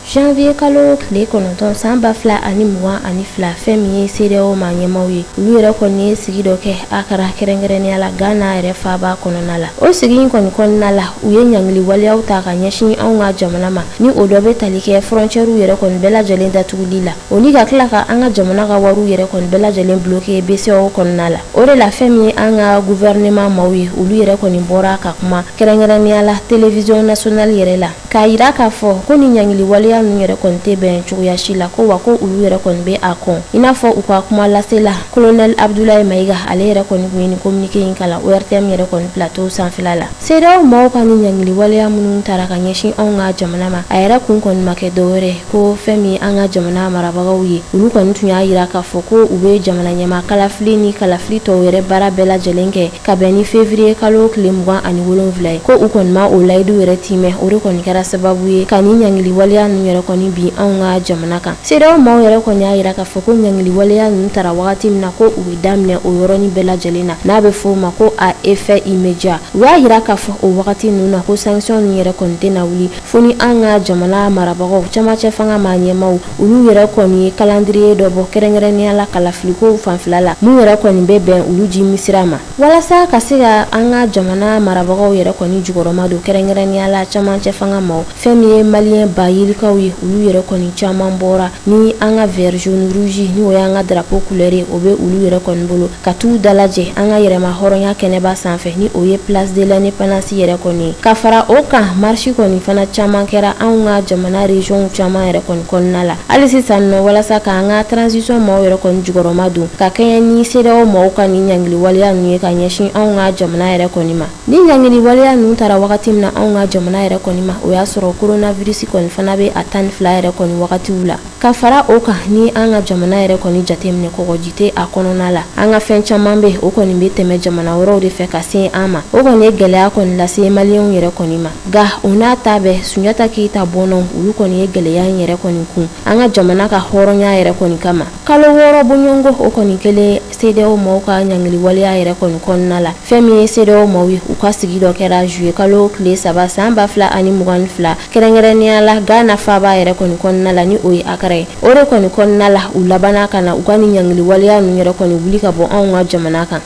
janvier kalo tile kɔnɔntɔn san ba fila ani mugan ani fila fɛn min ye CEDEAO ma ɲɛmaw ye olu yɛrɛ kɔni ye sigi dɔ kɛ a kɛra kɛrɛnkɛrɛnnenya la ghana yɛrɛ faaba kɔnɔna la o sigi in kɔni kɔnɔna la u ye ɲangili waleyaw ta ka ɲɛsin anw ka jamana ma ni o dɔ bɛ tali kɛ fɔrɔncɛriw yɛrɛ kɔni bɛɛ lajɛlen datuguli la o ni ka tila ka an ka jamana ka wariw yɛrɛ kɔni bɛɛ lajɛlen bloke bceao kɔnɔna la o de la fɛn min ye an ka guvɛrɛnɛman maw ye olu yɛrɛ kɔni bɔra ka kuma kɛrɛnkɛrɛnnenya la televiziyɔn nasiyonali yɛrɛ la k'a yira k'a fɔ ko ni ɲangili waleya ninnu yɛrɛ kɔni tɛ bɛn cogoya si la ko wa ko olu yɛrɛ kɔni bɛ a kɔn i n'a fɔ u ka kuma lasela kolonɛli abudulayi mayiga ale yɛrɛ kɔni kun ye nin kominike in kalan ortm yɛrɛ kɔni plateau sanfɛla la CEDEAO maaw ka ni ɲangili waleya minnu tara ka ɲɛsin anw ka jamana ma a yɛrɛ kun kɔni ma kɛ dɔwɛrɛ ko fɛn min an ka jamana marabagaw ye olu kɔni tun y'a yira k'a fɔ ko u bɛ jamana ɲɛmaa kalafili ni kalafili tɔw yɛrɛ baara bɛɛ lajɛlen kɛ ka bɛn ni fevriye kalo tile mugan ani wolonwula ye ko u kɔni ma o layidu yɛrɛ timɛ o de kɔni kɛra sababu ye ka ni ɲangili waleya ninnu yɛrɛ kɔni bin anw ka jamana kan CEDEAO maaw yɛrɛ kɔni y'a yira k'a fɔ ko ɲangili waleya ninnu tara wagati min na ko u bɛ daminɛ o yɔrɔnin bɛɛ lajɛlen na n'a bɛ fɔ o ma ko à effet immédiat u y'a yira k'a fɔ o wagati ninnu na ko sanction ninnu yɛrɛ kɔni tɛna wuli fo ni an ka jamana marabagaw camancɛ fanga ma ɲɛmaaw olu yɛrɛ kɔni ye kalandiriye dɔ bɔ kɛrɛnkɛrɛnnenya la kalafilikow fanfɛla la mun yɛrɛ kɔni bɛ bɛn olu ji misira ma walasa ka se ka an ka jamana marabagaw yɛrɛ kɔni jukɔrɔma don kɛrɛnkɛrɛnnenya la camancɛ fanga maw fɛn min ye maliyɛn ba yirikaw ye olu yɛrɛ kɔni caman bɔra ni an ka vert jaune rouge n'o y'an ka drapeau couleur ye o bɛ olu yɛrɛ kɔni bolo ka t'u dalajɛ an ka yɛrɛma hɔrɔnya kɛnɛba sanfɛ ni o ye place de l'indépendance yɛrɛ kɔni ye ka fara o kan marche kɔni fana caman kɛra anw ka jamana régionw caman yɛrɛ kɔni kɔnɔna la hali sisan nɔ walasa k'an ka transition maaw yɛrɛ kɔni jukɔrɔma don ka kɛɲɛ ni CEDEAO maaw ka nin ɲangiliwaleya ninnu ye ka ɲɛsin anw ka jamana yɛrɛ kɔni ma ni ɲangiliwaleya ninnu tara wagati min na anw ka jamana yɛrɛ kɔni ma o y'a sɔrɔ coronavirus kɔni fana bɛ a tan ni fila yɛrɛ kɔni wagatiw la ka fara o kan ni an ka jamana yɛrɛ kɔni jateminɛ kɔgɔji tɛ a kɔnɔna la an ka fɛn caman bɛ o kɔni bɛ tɛmɛ jamana wɛrɛw de fɛ ka se an ma o kɔni ye gɛlɛya kɔni lase maliyɛnw yɛrɛ kɔni ma nka o n'a ta bɛɛ sunjata keyita bɔnnaw olu kɔni ye gɛlɛya in yɛrɛ kɔni kun an ka jamana ka hɔrɔnya yɛrɛ kɔni kama kalo wɔɔrɔ bɔɲɔgɔnko o kɔni kɛlen CEDEAO maaw ka ɲangili waleya yɛrɛ kɔni kɔnɔna la fɛn min ye CEDEAO maaw ye u ka sigi dɔ kɛra juillet kalo tile saba san ba fila ani mugan ni fila kɛrɛnkɛrɛnnenya la Ghana faaba yɛrɛ kɔni kɔnɔna la ni o ye Accra ye o de kɔni kɔnɔna la u labanna ka na u ka nin ɲangili waleya ninnu yɛrɛ kɔni wuli ka bɔ anw ka jamana kan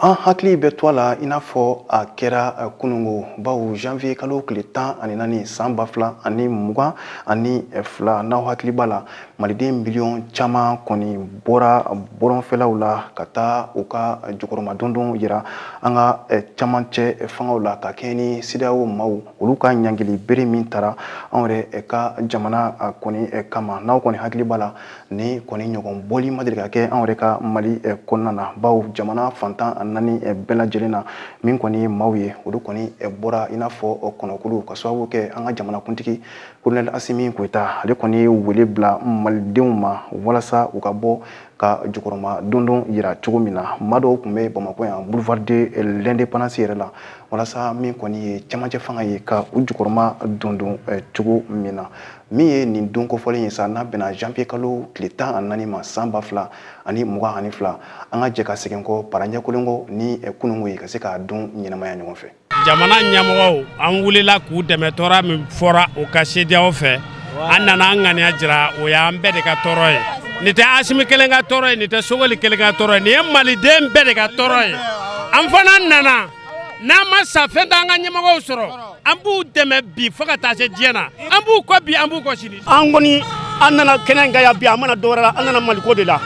an hakili bɛ to a la i n'a fɔ a kɛra eh, kunungo bawo janvier kalo tile tan ani naani san ba fila ani mugan ani eh, fila n'aw hakili b'a la maliden miliyɔn caman kɔni bɔra bɔlɔnfɛlaw la ka taa u ka jukɔrɔmadondon yira an ka eh, camancɛ fangaw la ka kɛɲɛ ni CEDEAO maaw olu ka ɲangili bere min tara anw yɛrɛ ka jamana kɔni kama n'aw kɔni hakili b'a la nin kɔni ɲɔgɔn bɔli ma deli ka kɛ anw yɛrɛ ka mali eh, kɔnɔna na bawo jamana fan tan ni naani eh, bɛɛ lajɛlen na min kɔni ye maaw ye olu kɔni eh, bɔra i n'a fɔ kɔnɔkulu ka sababu kɛ an ka jamanakuntigi kolonɛli asimi goyita ale kɔni ye wele bila malidenw ma walasa u ka bɔ ka jukɔrɔma dondon yira cogo min na maa dɔw tun bɛ bamakɔ yan boulevard de l'indépendance yɛrɛ la walasa min kɔni ye camancɛ fanga ye ka u jukɔrɔma dondon cogo min na min ye nin don kofɔlen ye sa n'a bɛnna janvier kalo tile tan ani naani ma san ba fila ani mugan ani fila an ka jɛ ka segin kɔ paranjɛkolen kɔ ni eh, kunungo ye ka se k'a don ɲɛnamaya ɲɔgɔn fɛ jamana ɲɛmɔgɔw an wulila k'u dɛmɛ tɔɔrɔ min fɔra u kan CEDEAO fɛ an nana an ŋaniya jira o y'an bɛɛ de ka tɔɔrɔ ye nin tɛ asimi kelen ka tɔɔrɔ ye nin tɛ sogoli kelen ka tɔɔrɔ ye nin ye maliden bɛɛ de ka tɔɔrɔ ye an fana nana n'an ma sa fɛn t'an ka ɲɛmɔgɔw sɔrɔ an b'u dɛmɛ bi fo ka taa se diɲɛ na an b'u kɔ bi an b'u kɔ sini an kɔni an nana kɛnɛ in kan yan bi an ma na dɔwɛrɛ la an nana maliko de la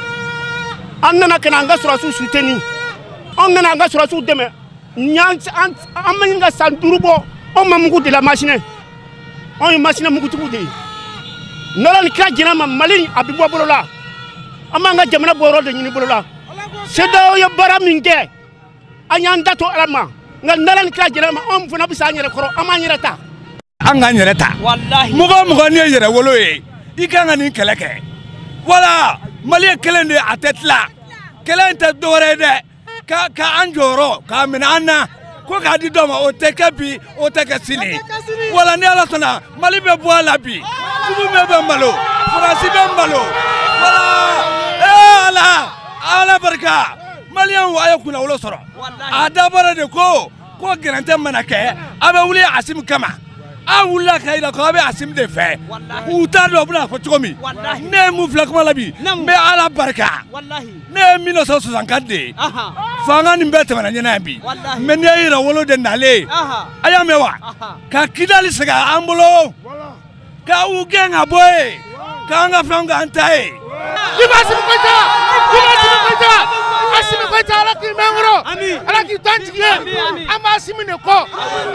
an nana ka na an ka sɔrɔdasiw suteni an nana an ka sɔrɔdasiw dɛmɛ an ma ɲini ka san duuru bɔ anw ma mugu de la masinɛ anw ye masinɛ mugutigiw de ye n'ala ni kira jɛnna ma mali a bɛ bɔ bolo la an b'an ka jamana bɔyɔrɔ de ɲini bolo la CEDEAO ye baara min kɛ an y'an da to ala ma nka n'ala ni kira jɛnna ma anw fana bɛ se an yɛrɛ kɔrɔ an b'an yɛrɛ ta an k'an yɛrɛ ta mɔgɔ o mɔgɔ n'i ye yɛrɛwolo ye i kan ka nin kɛlɛ kɛ wala mali ye kelen de ye a tɛ tila kɛlɛ in tɛ dɔwɛrɛ ye dɛ ka ka an jɔyɔrɔ k'a minɛ an na ko k'a di dɔ ma o tɛ kɛ bi o tɛ kɛ sini wala ni ala sɔnna mali bɛ bɔ a la bi jugu bɛɛ bɛ malo faransi bɛ malo wala ee ala ala barika maliyɛnw a ye kunnawolo sɔrɔ a dabɔra de ko ko gɛrɛntɛ mana kɛ a bɛ wuli asimi kama a wulila ka yira ko a bɛ asimi de fɛ u t'a dɔn u bɛna fɔ cogo min ne ye mun filɛ kuma la bi n bɛ ala barika ne ye 1964 de ye fanga nin bɛɛ tɛmɛna n ɲɛna yan bi mɛ nin ye yɛrɛwolo denw nalen a y'a mɛn wa ka kidali segin an bolo Ka u gɛn ka bɔ yen k'an ka fɛn k'an ta ye. Vive Asimi Goyita vive Asimi Goyita Asimi Goyita ala k'i mɛn kɔrɔ ala k'i t'an jigi ye an b'Asimi de kɔ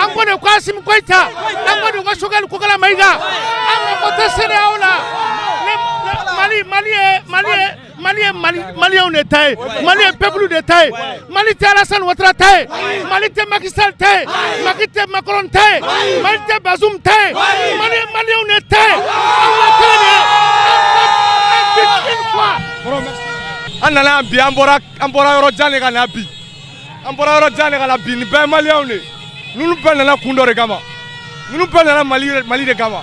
an ko de ko Asimi Goyita an ko de ko Sogɛli Kokala Mayiga an ka ko tɛ CEDEAO la mali mali ye mali ye. Mali ye Mali maliyɛnw de ta ye ayi Mali ye peuple de ta ye ayi Mali tɛ Alassane Ouattara ta ye ayi Mali tɛ Macky Sall ta ye ayi Macky tɛ Macron ta ye ayi Mali tɛ Bazoum ta ye ayi Mali ye maliyɛnw de ta ye aw ka kɛnɛ de ye un but une foi an nana yan bi an bɔra an bɔra yɔrɔ jan de ka na bi an bɔra yɔrɔ jan de ka na bi nin bɛɛ ye maliyɛnw de ye ninnu bɛɛ nana kun dɔ de kama ninnu bɛɛ nana Mali Mali de kama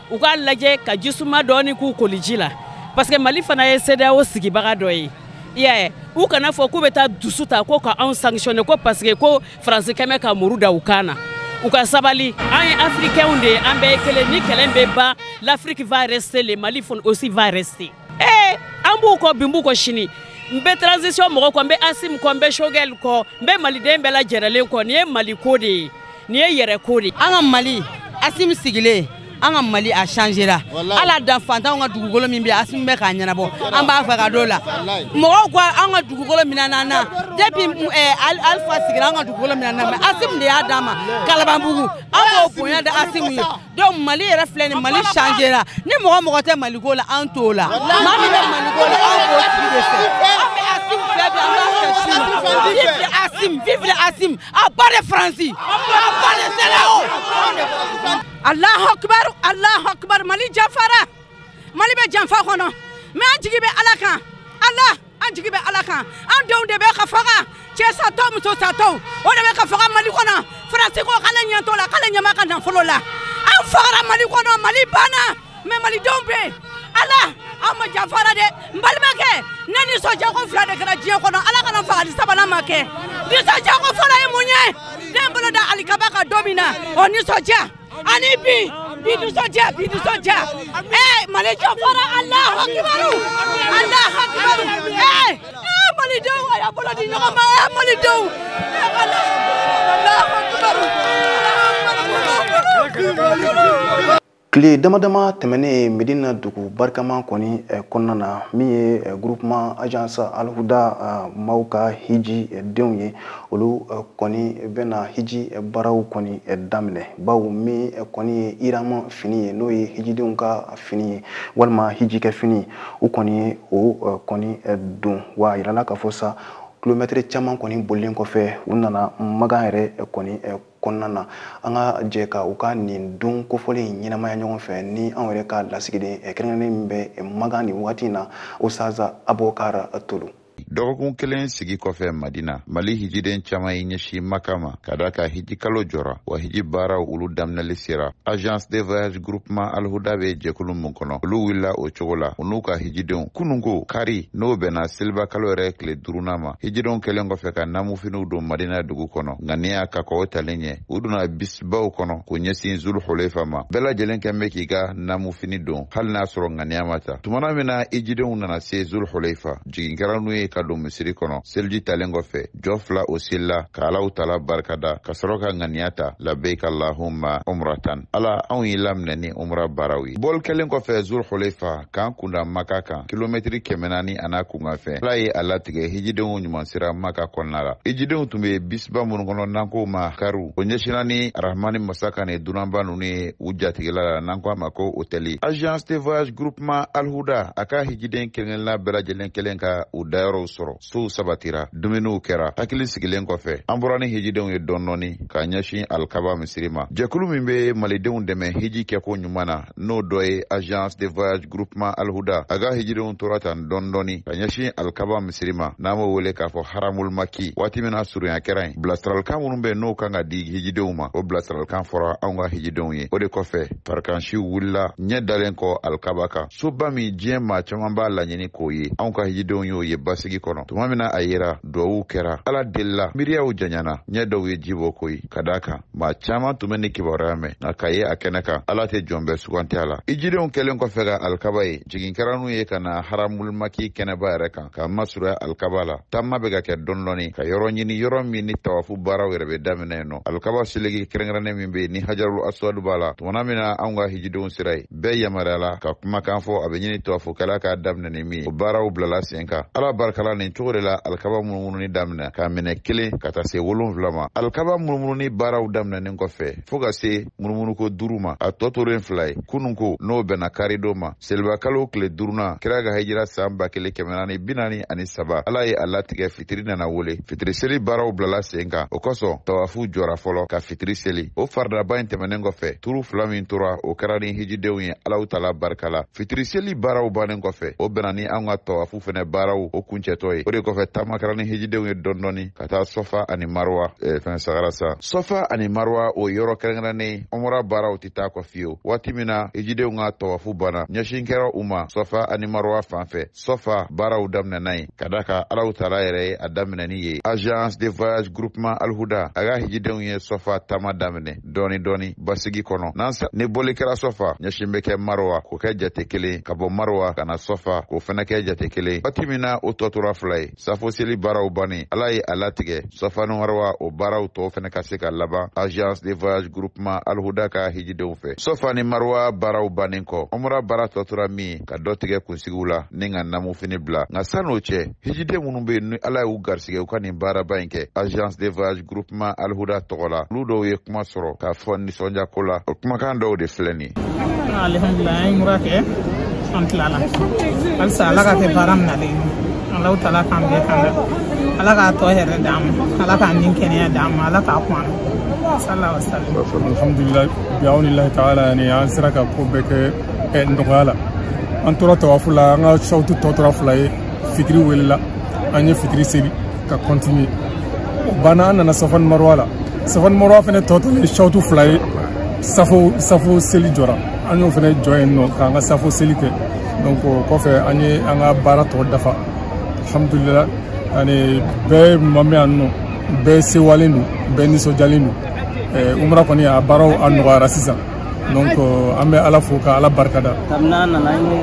u k'a lajɛ ka ji suma dɔɔni k'u koliji la parce que mali fana ye CEDEAO sigibaga dɔ ye i y'a ye u kana fɔ k'u bɛ taa dusu ta ko ka anw sanctionner ko parce que ko faransikɛ bɛ ka muru da u kan na u ka sabali an ye africainw de ye an bɛɛ ye kelen nin kɛlɛ bɛ ban l'afrique va rester le mali aussi va rester ee an b'u kɔ bi n b'u kɔ sini n bɛ transition mɔgɔ kɔ n bɛ asim kɔ n bɛ shogɛl kɔ n bɛ maliden bɛɛ lajɛrɛlen kɔ nin ye mali ko de ye nin ye yɛrɛ ko de ye an ka mali asim sigilen an ka mali a changera ala dan fantanw ka dugukolo min bɛ asim bɛ k'a ɲɛnabɔ an b'a fɛ ka don la mɔgɔw ko an ka dugukolo minɛna an na depuis eh, alfa sigira an ka dugukolo minɛna mais asim de y'a d'an ma kalabanbugu an b'o bonya da asim ye donc mali yɛrɛ filɛ nin mali changera ni mɔgɔ o mɔgɔ tɛ maliko la an t'o la maa min bɛ maliko la an b'o tigi de fɛ an bɛ asim fɛ bi an b'a fɛ sini vive asim vive asim à bas de faransi à bas de CEDEAO alahu akibar alahu akibar mali janfara mali bɛ janfa kɔnɔ mais an jigi bɛ ala kan ala an jigi bɛ ala kan an denw de bɛ ka faga cɛ satɔ muso satɔ o de bɛ ka faga mali kɔnɔ faransi ko k'ale ɲɛ t'o la k'ale ɲɛ b'an ka nafolo la an fagara mali kɔnɔ mali banna mais malidenw bɛ yen ala an ma janfara dɛ n balimakɛ ne nisɔndiya ko fila de kɛra diɲɛ kɔnɔ ala kana n faga ni sabanan ma kɛ nisɔndiya ko fɔlɔ ye mun ye ne n bolo da alikaba kan don min na o nisɔndiya ani bi bi nisɔndiya bi nisɔndiya ee mali jo fɔra alahu akibaru alahu akibaru ee ee malidenw a y'a bolo di ɲɔgɔn ma ee malidenw ee alahu akibaru tile dama dama tɛmɛnen medina dugu barikama kɔni eh, kɔnɔna na min ye eh, groupement agence alhuda eh, maaw ka hijidenw ye olu eh, kɔni bɛna hiji eh, baaraw kɔni eh, daminɛ bawo min kɔni ye irama fini ye n'o ye hijidenw ka fini ye walima hijikɛ fini u kɔni ye o kɔni don wa a yirala k'a fɔ sa kilomɛtiri caman kɔni bolilen kɔfɛ u nana makan yɛrɛ kɔni kɔnɔna na an ka jɛ ka u ka nin don kofɔlen in ɲɛnamaya ɲɔgɔn fɛ ni anw yɛrɛ ka lasigiden kɛrɛnkɛrɛnnen min bɛ makan nin wagati in na ustaz abokar tolo dɔgɔkun kelen sigi kɔfɛ madina mali hijiden caaman ye ɲɛsin maka ma ka da a kan hiji kalo jɔra wa hiji baaraw olu daminɛli sera agence de voyage groupement alhuda be jɛkulu min kɔnɔ olu wulila o cogo la u n'u ka hijidenw kununko kari n'o bɛnna seliba kalo yɛrɛ tile duurunan ma hijidenw kɛlen kɔfɛ ka namufiniw don madina dugu kɔnɔ ŋaniya ka kɔw talen ɲɛ u donna bisibaw kɔnɔ k'u ɲɛsin zulu holefa ma bɛɛ lajɛlen kɛlen bɛ k'i ka namufini don hali n'a sɔrɔ ŋaniya ma ta tumana min na hijidenw nana se zulu holefa jigin kɛra n'u ye ka don misiri kɔnɔ seliji talen kɔfɛ jɔ fila o selila ka alahutaala barikada ka sɔrɔ ka ŋaniya ta labayika alahuma umratan ala anw y'i laminɛ ni umra baaraw ye bɔli kɛlen kɔfɛ zulu holefa k'an kun da maka kan kilomɛtiri kɛmɛ naani a n'a kunkanfɛn ala ye a latigɛ hijidenw ɲuman sera maka kɔnɔna la hijidenw tun be bisiba minnu kɔnɔ n'an ko ma kariw o ɲɛsinna ni arahamani masa ka nin dunanba nunu ye u jatigila la n'an ko a ma ko otɛli agence de voyage groupement alhuda a ka hijiden kelenkelenna bɛɛ lajɛlen kɛlen ka u dayɔrɔw sɔrɔ sow sabatira dumuniw kɛra hakili sigilen kɔfɛ an bɔra ni hijidenw ye dɔɔni dɔɔni ka ɲɛsin alikaba misiri ma jɛkulu min bɛ malidenw dɛmɛ hiji kɛko ɲuman na n'o dɔ ye agence de voyage groupement alhuda a ka hijidenw tora tan dɔɔni dɔɔni ka ɲɛsin alikaba misiri ma n'an b'o wele k'a fɔ haramulmaki waati min na surunya kɛra yen bilasiralikan minnu bɛ n'o kan ka di hijidenw ma o bilasiralikan fɔra anw ka hijidenw ye o de kɔfɛ farikansiw wulila ɲɛ dalen kɔ alikaba kan soba min diɲɛ maa caman b'a laɲini k'o ye anw ka hijidenw y'o ye basigi kɔnɔ tuma min na a yera duwawuw kɛra ala delila miiriyaw janyana ɲɛ dɔw ye ji bɔ koyi ka da a kan maa caman tun bɛ nin kibaruya mɛn nka k'a ye a kɛnɛ kan ala tɛ jɔn bɛɛ suganti a la hijidenw kɛlen kɔfɛ ka alikaba ye jigin kɛra n'u ye ka na haramulumaki kɛnɛba yɛrɛ kan ka masurunya alikaba la taama bɛ ka kɛ dɔɔni dɔɔni ka yɔrɔ ɲini yɔrɔ min ni tawafu baaraw yɛrɛ bɛ daminɛ yen n'o alikaba seleke kɛrɛnkɛrɛnnen min bɛ yen ni hajarul aswadu b'a la tumana min na anw ka hijidenw sera yen bɛɛ yamaruyala ka kumakan fɔ a bɛ ɲini tawafukɛla k'a daminɛ ni min ye o baaraw bilala sen kan ala barika la nin cogo de la alikaba munumununi daminɛ k'a minɛ kelen ka taa se wolonfila ma alikaba munumununi baaraw daminɛnen kɔfɛ fɔɔ ka se munumunuko duuru ma a tɔ tolen fila ye kununko n'o bɛnna karidon ma selibakalo tile duurunan kira ka hijira san ba kelen kɛmɛ naani bi naani ani saba ala ye a latigɛ fitiri nana wele fitiri seli baaraw bilala sen kan o kosɔn tawafu jɔra fɔlɔ ka fitiri seli o faridaba in tɛmɛnen kɔfɛ turu fila min tora o kɛra ni hijidenw ye alaw taala barika la fitiri seli baaraw bannen kɔfɛ o bɛnna ni an ka tawafu fɛnɛ baaraw o kuncɛtɔ ye o de kɔfɛ taama kɛra ni hijidenw ye dɔɔni dɔɔni ka taa sɔfa ani maruwa eh, fan sɛgɛrɛ sa sɔfa ani maruwa o yɔrɔ kɛrɛnkɛrɛnnen umra baaraw tɛ taa kɔ fiyewu waati min na hijidenw ka tawafu banna ɲɛsin kɛra u ma sɔfa ani maruwa fan fɛ sɔfa baaraw daminɛna yen k'a da kan alaw taala yɛrɛ ye a daminɛni ye agence de voyage groupement alhuda a ka hijidenw ye sɔfa taama daminɛ dɔɔni dɔɔni basigi kɔnɔ ni bɔli kɛra sɔfa ɲɛsin bɛ kɛ marowa k'o kɛ jate kelen ka bɔ marowa ka na sɔfa k'o fɛnɛ kɛ jate kelen waati min na o tɔ tora fila ye safo seli baaraw bannen ala ye a latigɛ sɔfa ni marowa o baaraw tɔw fɛnɛ ka se ka laban agence de voyage groupement alhuda ka hijidenw fɛ sɔfa ni marowa baaraw bannen kɔ umra baara tɔ tora min ka dɔ tigɛ kunsigiw la ni ka namu fini bila nka san'o cɛ hijiden minnu bɛ yen ni ala y'u garisɛgɛ u ka nin baaraba in kɛ agence de voyage groupement alhuda tɔgɔ la olu dɔw ye kuma sɔrɔ k'a fɔ nisɔndiyako la o kumakan dɔw de filɛ nin alhamdulila an ye umra kɛ an tilala halisa ala k'a kɛ baara minalen alaw taala k'an bɛɛ kanda ala k'a tɔ hɛrɛ d'an ma ala k'a ni kɛnɛya d'an ma ala k'a kun an na wasalam alhamdulila bi'awnilahi taala yani an sera ka ko bɛɛ kɛ eh, nɔgɔya la an tora tawafu la an ka sawutu tɔ tora fila ye fitiri welela an ye fitiri seli ka continuer o banna an nana safa ni maruwa la safa ni maruwa fɛnɛ tɔ tora sawutu fila ye safo seli jɔra an y'o fɛnɛ jɔ yen nɔ k'an ka safo seli kɛ donc o kɔfɛ an ye an ka baara tɔ dafa alhamdulila ani bɛɛ ma min yan nɔ bɛɛ sewalen don bɛɛ nisɔndiyalen don eh, umra kɔni a baaraw a nɔgɔyara sisan donc an bɛ ala fo ka ala barika da kabini an nana an ye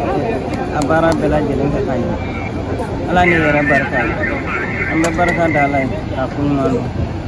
a baara bɛɛ lajɛlen kɛ ka ɲɛ ala ni yɛrɛ barika an bɛ barika da ala ye k'a kun ɲuman don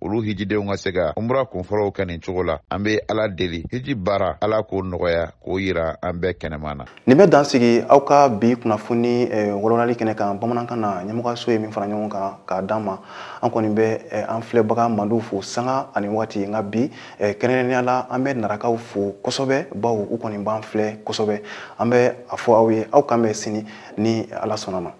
olu hijidenw ka se ka umra kunfɔlɔw kɛ nin cogo la an bɛ ala deli hiji baara ala k'o nɔgɔya k'o yira an bɛɛ kɛnɛman na nin bɛ dan sigi aw ka bi kunnafoni walawalali kɛnɛ kan bamanankan na ɲɛmɔgɔso ye min fara ɲɔgɔn kan k'a d'an ma an kɔni bɛ eh, an filɛbaga mandiw fo sanga ani waati nka bi eh, kɛrɛnkɛrɛnnenya la an bɛ narakaw fo kosɛbɛ bawo u kɔni b'an filɛ kosɛbɛ an bɛ a fɔ aw ye aw k'an bɛn sini ni ala sɔnna a ma